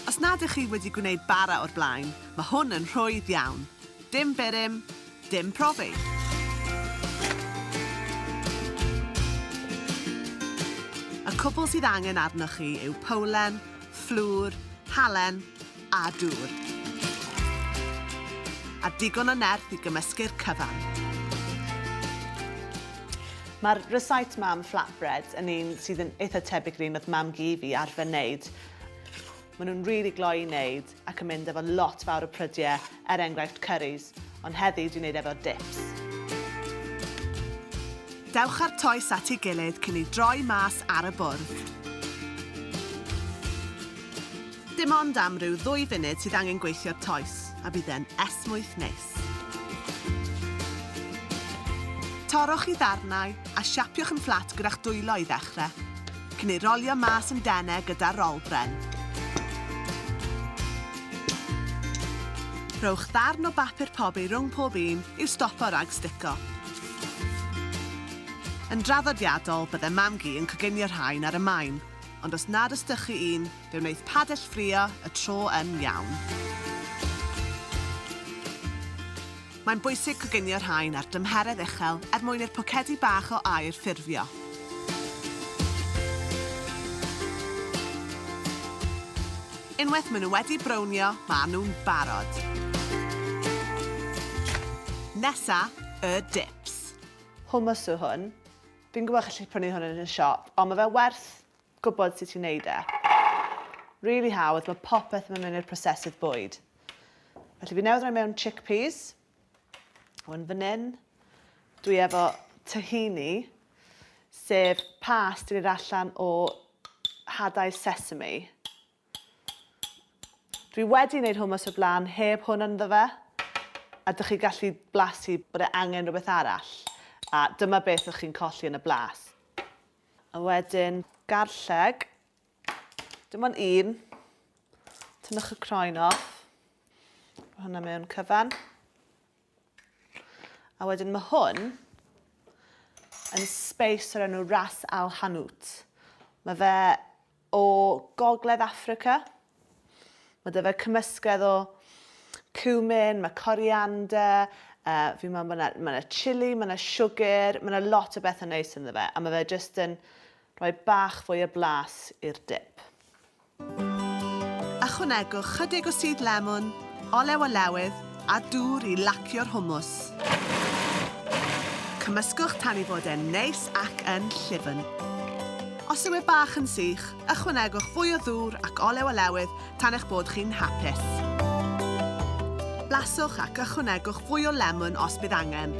Os nad ych chi wedi gwneud bara o'r blaen, mae hwn yn rhwydd iawn. Dim birym, dim profi. Y cwbl sydd angen arnoch chi yw powlen, fflwr, halen, a dŵr. A digon o nerth i gymysgu'r cyfan. Mae'r recite mam flatbread yn un sydd yn eitha tebyg i'r un oedd mam gi fi arfer wneud. Maen nhw'n rili really gloi i wneud ac yn mynd efo lot fawr o prydiau, er enghraifft curries, ond heddi dwi'n wneud efo dips. Dewch â'r toes at ei gilydd cyn ei droi mas ar y bwrdd. Dim ond am ryw ddwy funud sydd angen gweithio'r toes, a bydd e'n esmwyth neis. Torrwch i ddarnau a siapiwch yn fflat gyda'ch dwylo i ddechrau, cyn ei rolio mas yn denau gyda rol bren. Rhowch ddarn o bapur pobi rhwng pob un i'w stopo rhag stico. Yn draddodiadol, bydde mam-gu yn coginio rhain ar y maen, ond os nad os dych chi un, Fe wnaeth Padell ffrio y tro yn iawn. Mae'n bwysig coginio rhain ar dymheredd uchel er mwyn i'r pocedi bach o aer ffurfio. Unwaith maen nhw wedi brownio, maen nhw'n barod. Nesa, y dips. Hummus yw hwn. Fi'n gwybod chi'n gallu prynu hwn yn y siop, ond mae fe werth gwybod sut i wneud e. Rili hawdd, mae popeth yn mynd mewn i'r prosesydd bwyd. Felly fi newydd roi mewn chickpeas. Hwn fan hyn. Dwi efo tahini, sef pas dwi wneud allan o hadau sesame. Dwi wedi wneud hummus o'r blaen heb hwn ynddo fe, a dych chi gallu blasu bod e angen rhywbeth arall, a dyma beth ydych chi'n colli yn y blas. A wedyn garlleg. Dim ond un. Tynnwch y croen off. Mae hwnna mewn cyfan. A wedyn mae hwn yn space o'r enw Ras Al Hanout. Mae fe o Gogledd Affrica. Mae 'da fe cymysgedd o cumin, mae coriander, uh, fi'n meddwl mae 'na, mae 'na chili, mae 'na siwgr, mae 'na lot o bethau neis ynddo fe, a mae fe jyst yn rhoi bach fwy o blas i'r dip. Ychwanegwch chydig o sudd lemwn, olew olewydd, a dŵr i lacio'r hummus. Cymysgwch tan ei fod e'n neis ac yn llyfn. Os yw e bach yn sych, ychwanegwch fwy o ddŵr ac olew olewydd tan eich bod chi'n hapus. Blaswch ac ychwanegwch fwy o lemwn os bydd angen.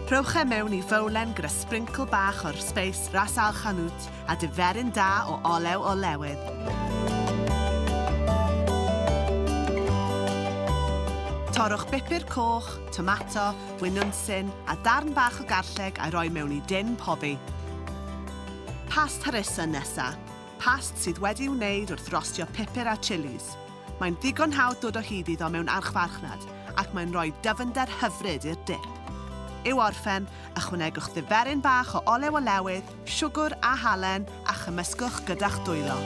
Rhowch e mewn i fowlen gyda sbrincl bach o'r sbeis Ras Al Hanout a diferyn da o olew olewydd. Torrwch bupur coch, tomato, winwnsyn a darn bach o garlleg a'i roi mewn i din pobi. Past harissa nesa. Past sydd wedi wneud wrth rostio pupur a chilis. Mae'n ddigon hawdd dod o hyd iddo mewn archfarchnad ac mae'n rhoi dyfnder hyfryd i'r dip. I'w orffen, ychwanegwch ddiferyn bach o olew olewydd, siwgr a halen a chymysgwch gyda'ch dwylo.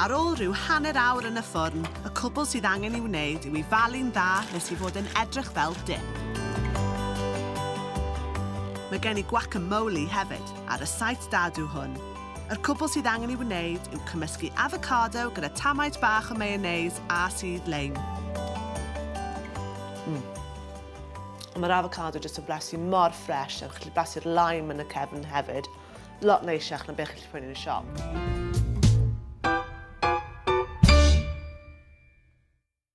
Ar ôl rhyw hanner awr yn y ffwrn, y cwbl sydd angen ei wneud yw i falu'n dda nes i fod yn edrych fel dip. Mae gen i guacamole hefyd, ar y site dadw hwn. Yr cwbl sydd angen ei wneud yw cymysgu avocado gyda tamaid bach o mayonnaise a sudd leim. Mm. Ond mae'r avocado jyst yn blasu mor ffres a chi'n gallu blasu'r lime yn y cefn hefyd. Lot neisiach na beth chi'n gallu prynu yn y siop.